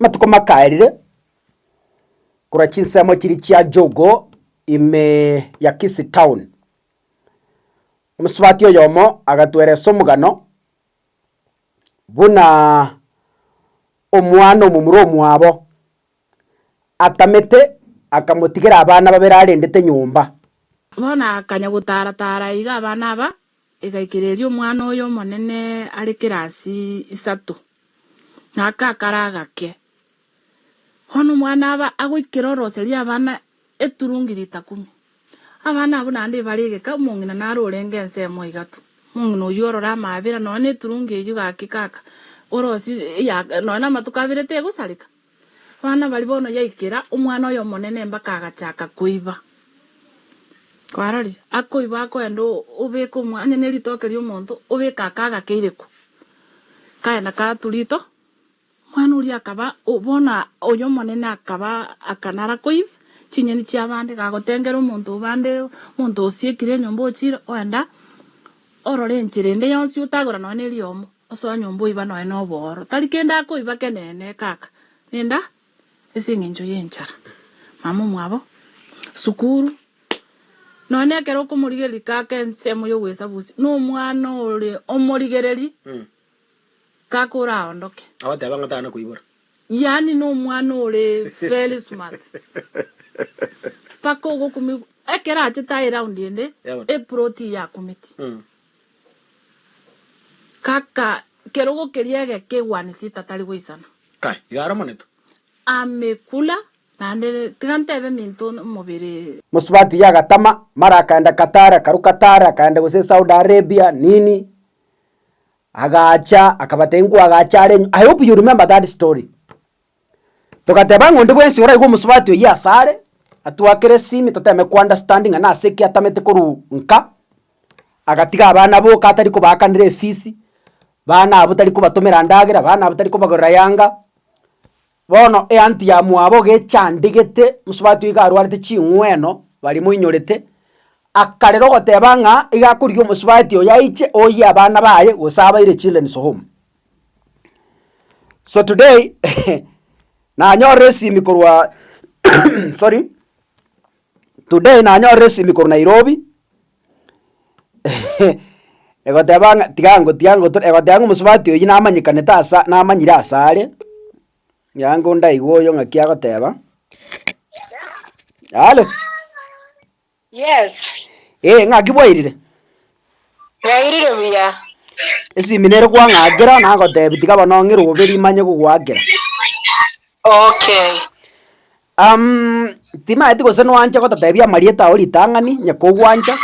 Amatuko makaerire, korwa chinsemo chiria chia Jogo ime ya Kisii Town, omosubati oyomo agatweresa omogano buna omwana omomura omwabo atamete akamotigera abana babere arendete nyomba. Bono akanya gotara-tara iga abana aba Egaichereria omwana oye omonene are kirasi isato, na akakara agake. Bono omwana aba agoikera oroseria abana eturungi ritakumi. Abana abwo naende ebare egeka, omong'ina naro orenge ense emo iga tu. Omong'ina oyio orore amaabera, nonya neturungi eyio gaki kaka, orosie, eya, nonya namatuko abere tegosareka. Abana baria bono yaikera omwana oyomonene mpaka agachaka koiba. Kwaroria? Akoiba akoenda obeka omwa, onye ne ritoke ria omonto, obeka aka agake ireko. Kaenda katu rito, omwana oria akaba bono oyomonene akaba aka nara koiba chinyeni chia abande, gagotengera omonto obande, omonto osiekire enyomba ochire oenda. Orore enchera ende yonsi otagora nonya neriomo, osoe nyomba oiba nonya nobooro, tari kende akoiba kenene kaka, renda ase engencho yenchara mama omwabo, sukuru, nonya nekero okomorigereria kaka ensemo yogoesabusia nomwana ore omorigereri. Kaka oraondoke. Abateba ng'a tana koibora. Yaani nomwana ore very smart. Paka ogokumigwa ekero achete aye round ende eplot eye akumeti. Kaka kerogo keria egeke one seat atari goisana. Kai, iga aromoneto. Amekula naende tiga ntebe minto omobere. Mosubati yagatama, mara akaenda Qatar, akaruka Qatar, akaenda gose Saudi Arabia, nini. Agacha akabatebia nkwagacha are nyuma, I hope you remember that story. Togateba ng'a onde bwensi oraigwe omosubati oyio ase are, atwakere esimi toteme kounderstand ng'a nase ki atamete korwa nka, agatiga abana boka atari kobaakanera efisi, bana abwo tari kobatomera ndagera, bana abwo tari kobagorera yanga. Bono Eantiamu abo gechandigete mosubati oiga arwarete ching'weno baria moinyorete, akarera ogoteba ng'a iga akorigia omosubati oyo aiche oyie abana baye gose abaire children's home. So today nanyorire esimi korwa sorry today nanyorire esimi korwa Nairobi. egoteba ng'a tiga ngo tiga ngo to egoteba ng'a omosubati oyio namanyekanete asa namanyire asare, nyango ndaigwe oyo ng'aki agoteba, halo. Eeh ng'aki bwairire? Esimi nere kwang'akera nagotebi tiga bono ong'e robe rimanye gogoakera. Timaeti gose nwanche gototeebia amarieta ao ritang'ani, onye kogwancha.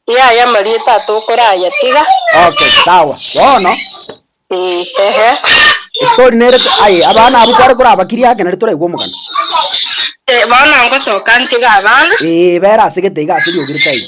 Yaya amarieta atokoraya tiga. Okay, sawa. Bono. Ee, ehe. Story nere aye abana abwo kware korabakiria ake nari toraigwe omogano. Ee, bono ngosoka ntiga abana. Ee, bera ase gete iga ase riogi ritaino.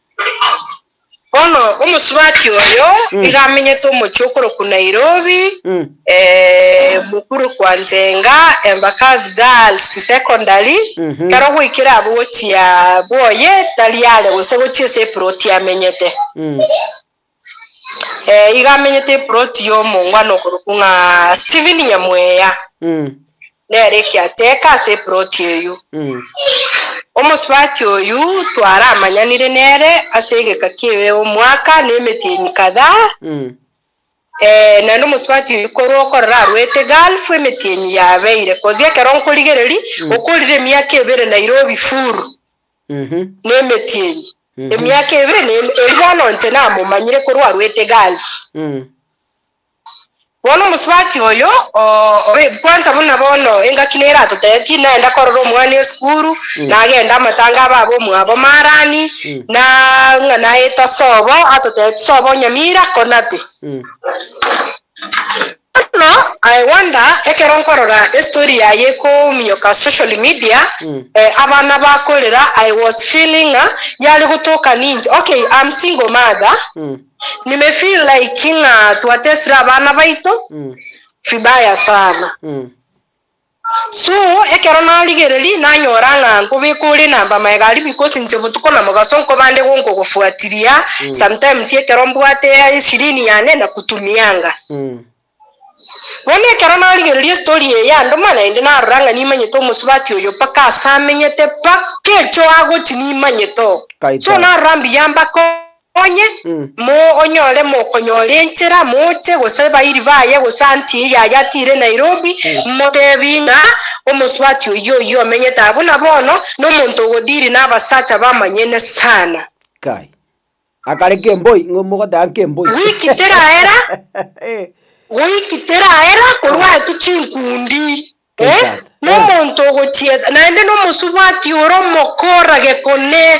Bono omosubati oyo nigo amenyete omochie okorokwa Nairobi, mokure kwa Njenga, Embakasi Girls Secondary, ekero goikire abwo gochia Boye tari are gose gochia ase eploti amenyete. Ee, iga amenyete eploti y'omongwana okorokwa ng'a Stephen Nyamweya, Mm. nere ekiateka ase eploti eyio. Mm. Omosubati oyio twaramanyanire nere ase egeka ki'e omwaka na emetienyi kadhaa, Mm. eh, naende omosubati oyio korwa okorora arwete Gulf emetienyi yabeire, kozi ekero nkorigereri, Mm. okorire emiaka ebere Nairobi full. nemetienyi, emiaka ebere ne ime, erio bono inche namomanyire korwa arwete Gulf. Bono omosubati oyo o, o, kwanza buna bono engaki nere atotetie naenda korora omwana esukuru, nagenda amatanga abe aba omwabo Marani, na ng'a naeta sobo, atotetie sobo Nyamira, Konate. Bono I wonder ekero nkorora estory yaye kominyoka social media eh, abana bakorera I was feeling ng'a yare gotoka ninche okay I'm single mother nime feel like ng'a twatesire abana baito vibaya sana. So, ekero narigereria, nanyora ng'a nkobeka ore na mbamaega aria because inche botuko na mogaso nkobande gonkogofuatiria, sometimes ekero mbwate eshirini yane nakutumianga. Bono ekero narigereria estory eye yandoma, naende narora ng'a nimanyete omosubati oyo mpaka ase amenyete, mpaka echo agochi nimanyete oo. So, narora mbuya mbakong'e. Onye monyore mokonyora enchera moche gose bairi baye gose antie yaye atire Nairobi motebi ng'a omosubati oyio oyio omenyete aa buna bono nomonto ogodiri nabasacha bamanyene sana. Kai. Akare kemboi ng'o mogoteba nkemboi. Wiki teraera, wiki teraera korwa aye tu chinkundi. Eh, nomonto ogochiesa, naende nomosubati ore omokora gekone,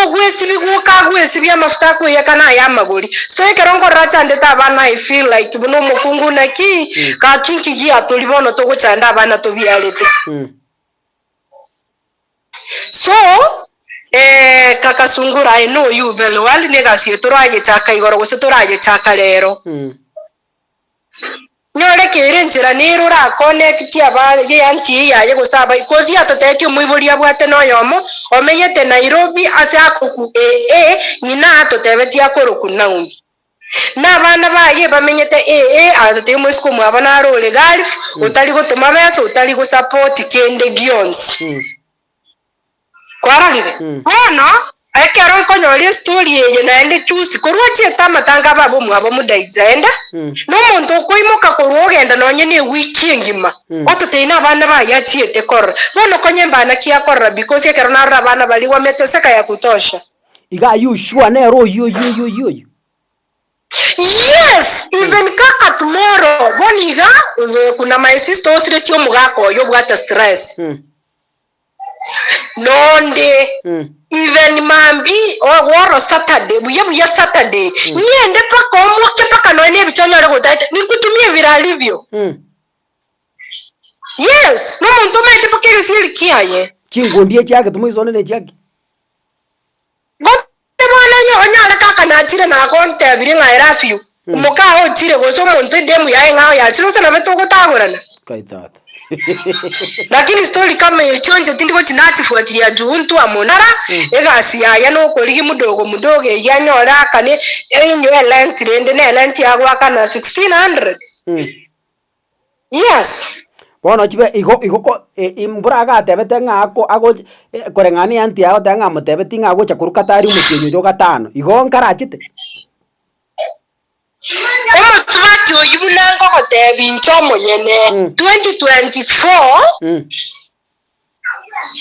ogwesibigwa oka agwesibia amafuta akoyaka na aya amagori. So ekero nkorora achandete abana I feel like buna omokungu naki gaki nki giatori bono togochanda abana tobiarete. So eh, kaka sungura I know you very well, ne egasi eye toragechaka igoro gose toragechaka rero. Nyore kere enchera nere orakonekitie aba y'eanti eye yaye gose abayi. Kosi atotetie omoibori abwate noyomo omenyete Nairobi ase akoku ee ee ng'ina atotebetie akoroku Naomi. Na abana baye bamenyete ee ee agatotebia omosike omwabo naro ore Gulf otari gotoma besa otari gosapoti kende gionsi. Kwarorire? Bono, ekero nkonyora estory eye naende chus korwa ochiete amatanga ababe omwabo Mudaidza, enda nomonto okoimoka korwa ogenda nonye ne ewiki engima ototei nabana baye achiete korora. Bono konya embana ki akorora because ekero narora abana baria gwa meteseka ya kutosha. Iga are you sure nere oyio oyio oyio oyio oyio? Yes! Even kaka tomorrow bono iga, obe kuna my sister osiretie omogaka oyo obwate stress. Nonde, even mambi oro Saturday, buya buya Saturday, ng'ende mpaka omoke mpaka noe nebichwa onyare gotaeta, nikutumie vile alivyo. Yes, nomonto omanyete mpaka egesieri kiaye. Chinkundi echi agetumwa isonde nechiaki? Inche bono onye onyare kaka nachire nagontebirie ng'a I love you omoka aye ochire gose omonto endemu yaye ng'a oyachire gose nabe togotagorana. Kai tata. Lakini story kama echio inche tindi gochi nachifuatilia juu intu amo nara egasi yaye nokorigi mudogo mudogo eyio anyore akane enywe erent rende nerent ya goakana 1600. Yes. Bono chibe igo igo ko e- imbura agatebete ng'a ako ago eh, koreng'ana ne anti yaye goteba ng'a amotebetie ng'a agocha korwa katari omotienyi oyo gatano. Igo nkarachete? Omosubati oyio buna nkogotebia inche omonyene, Mm. 2024 Mm.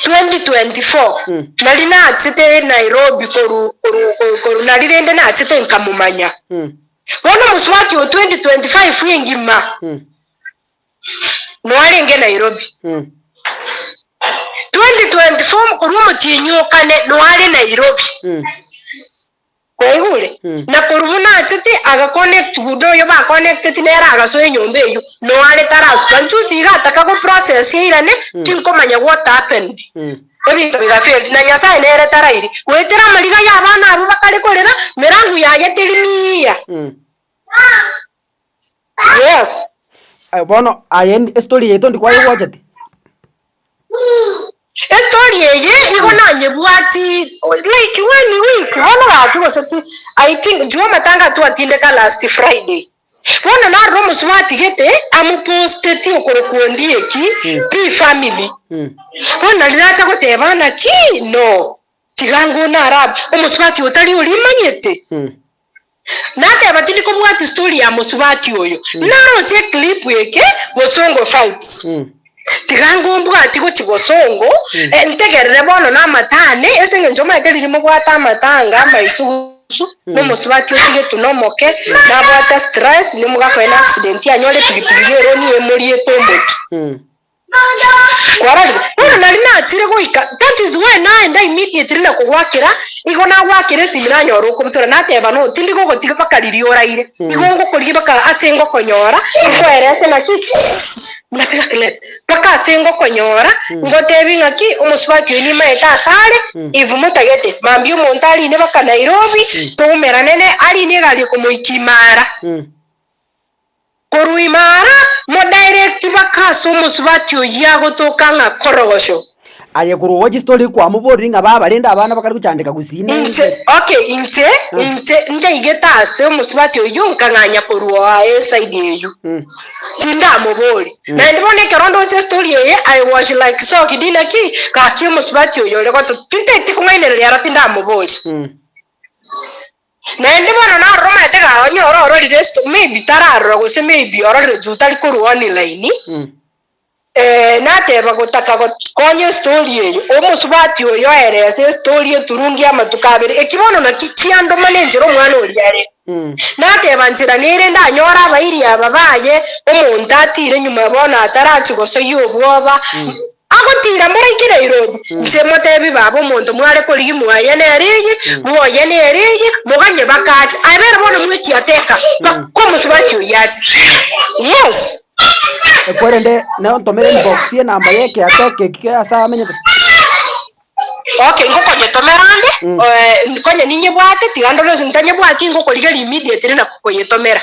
2024 nari nachete Nairobi koru koru koru koru nari rende nachete nkamomanya bono omosubati oo 2025 engima noarenge Nairobi 2024 mokori omotienyi okane noare Nairobi. Kwaigure? Na korwa buna achete agakonecti guda oyo bakonecteti nere agasoa enyomba eyio noare tarasuka nchusi iga ataka go process eirane tinkomanya what happened ebinto biga failed na nyasaye nere tarairi goetera amariga ya abana abwo bakare korera merangu yaye teri miiya. Yes. Aye bono aye ndi estory yaito ndi kwayegochete. Estory eye igo nanyebwati like one week bono gaki gose ti I think juu amatanga twatindeka last Friday. Bono narora omosubati atigete amoposteti okorokwa Ondieki pi family. Mm. Bono nari nacha goteba naki no tiga ngo nara omosubati otari orimanyete. Mm. Nateba tindi kobwati story ya mosubati oyo naroche eclip eke bosongo fights tiga ngombwati gochi bosongo eh, ntegerere bono na amatane ase eng'encho omanyete riria mobwate amatanga amaisugusu nomosubati otigetwe nomoke nabwate stress nimugakoe na accident anyore pilipili ya eroni emoriete omotu Kwararia, bono nari nachire goika, that is why naenda immediately na kogwakera, nigo nagwakera esimi nanyora okobitora, nateba no, tindi gogotiga mpaka riria oraire, nigo ngokorigia mpaka ase ngokonyora, nkoerese naki, napiga clap, mpaka ase ngokonyora, ngotebi ngaki, omosubati oyi nimaete ase are, if motagete, mambia omonto arine mpaka Nairobi, toumerane nere, arine egari ekomoika imara. Korwa ime ara, modirecti baka ase omosubati oyio agotoka ng'a Korogosho. Aye korwa ogwa chistory kwamoborire ng'a baba rende abana bakare gochandeka gusii Inche, nense. okay, inche, Mm. inche njaigete ase omosubati oyio nkang'anya korwa eside eyio. Mm. Tindamobori. Mm. Naende bono ekero ndoche story eye, I was like shocked inaki, gaki omosubati oyo ore goto, tintaeti kong'ainereria aro tindamobori. Mm. Naende bono naroromete ga onye ore ororire sto maybe tararora gose maybe ororire juu tari korwa online eh nateba gotaka got konya estory eye omosubati oyo oerese estory eturungi amatuko abere eki bono naki kiandomana enchera omwana oria are nateba nchera nere ndanyore abairi aba baye omonto atire nyuma bono atarachie gosoyia obwoba Agotiira moraika na irobi, inche moteebie baaba omonto mware korigia moaye nere eye, moaye nere eye, moganye bakache. Aye bere bono mwetiateka, bakomosubati oyio ache. Yes. Ekwerende naye ontomere inbox y'enamba y'ekeateka eki kere ase amenyete. Okay, ngokonyetomera ande, eh, nkonye ninyebwate, tiga ndore gose ntanyebwati, ngokorigeria immediately na koyetomera.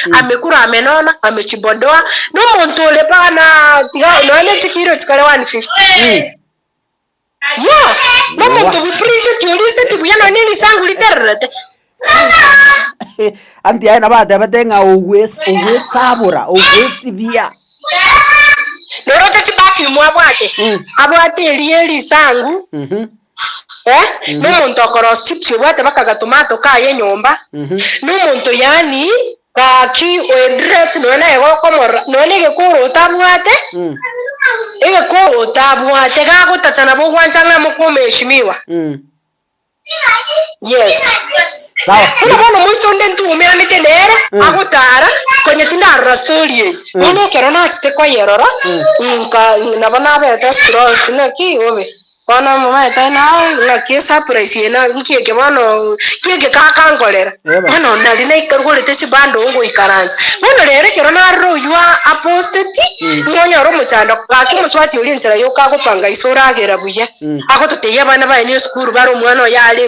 amekura ame nono ame chibondoa nomonto ore mpaka na tiga nonya ne chikiro chikare 150 yo nomonto Ewa. buprincheti oriste tibuya nonya ne risangu ritererete anti aye nabo atebete ng'a ogwes- ogwesabora ogwesibia noroche chiperfume abwate Mm. abwate erie risangu Mhm. na omonto okoroosia chibisio obwate bakaga tomato kaye enyomba, na omonto yaani gaki o edress nonya naye gokomorora nonya negekoro otabwate egekoro otabwate gagotacha nabo ogwancha ng'a mokomeheshimiwa yes. Sawa. Buna bono omonto onde ntwomeanete nere agotaara, konya tindarora story eye, bono ekero nachete koyerora nka nabo nabeete strosed ng'aki bobe bono momanyete aye na ng'aki esurprise eye na nki eke bono nki eke kaka nkorera Yebo. bono nari naikarugorete chibundle ngoikaransa bono rero ekero narora oywo a- aposteti nigo onyore omochando gaki mosubati oria ensera yoka agopanga ise oragera buya agototebia abana baye ne esukuru bare omwana oyo are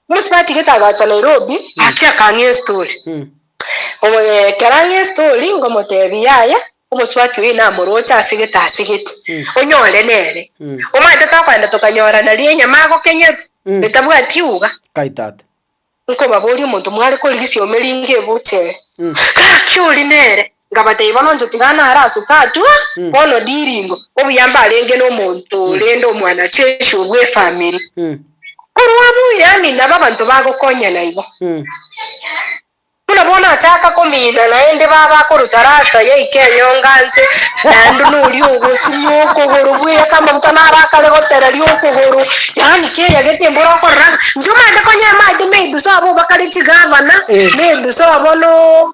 Bosio batigete agacha Nairobi gaki akang'ea estori. Ekero ang'ea estori ngomotebia yaya omosubati oye namoroche asegete asegete onyore nere. Omanyete tokogenda tokanyorana rienya magokenyeru etabwati iuga. Nkobaboria omonto mware korigisia omerenge ebucheri gaki ori nere Ngabatebia, Bono ntotigana are ase Katua, bono ndiringo, obuya mbarenge nomonto oo rende omwanachechi oo bw'efamiri. Korwa abwo yaani nabo abanto bagokonyana igo. Buna bono achaaka komiina naende baba akoruta rasta yaika enyonga nse, naende noria ogosimwa okogoro bw'eya k'amaguta naro akare gotereria okogoro, yaani keya gete mbore okorora ng'a inche omanyete konya amaete ma ebiso abo obakare chigavana, na ebiso abo no.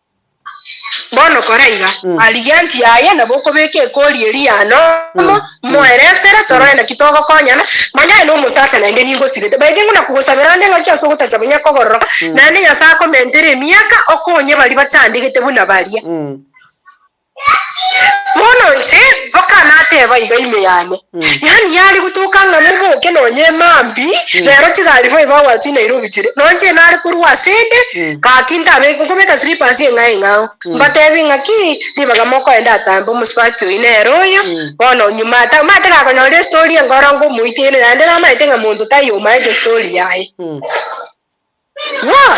Bono kora iga, arigie anti yaye, nabo okobeka ekori eria ya nomo, moere esere, torore naki togokonyana, manya aye nomosacha naende nigosibete. By the way, nguna kogosabera onde ng'aki ase ogotacha bonya kogororoka, naende Nyasae akomentere emiaka, okonye baria bachandegete buna baria. Bono inche mpaka nateba iga ime yane, yaani yare gotoka ng'a moboke nonye emambi, rero chigari boigo agwatire Nairobi chire, nonye inche nare korwa asende, gaki ntabe nkobeka slippers eng'ao eng'ao, mbatebie ng'aki ribaga mokoenda atambe omosubati oyio nere oyo, bono nyuma ata mate gakonyora estori enkoro nkomoitera, naende namaete ng'a monto taiyo omaete estori yaye. Yooh.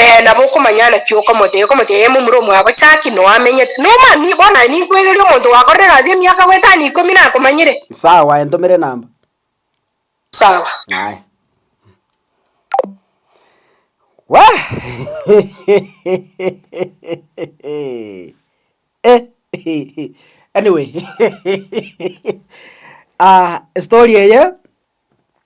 Ee, nabo okomanya naki okomoteia, okomoteia aye momura omwabo Jaki, noo amenyete. Noma, ni bono aye ninkwegerie omonto gwakorire egasi emiaka goetano ikomi nakomanyire. Sawa, entomere enamba. Sawa. Aye. Wee! Eh, anyway, ah, story eye.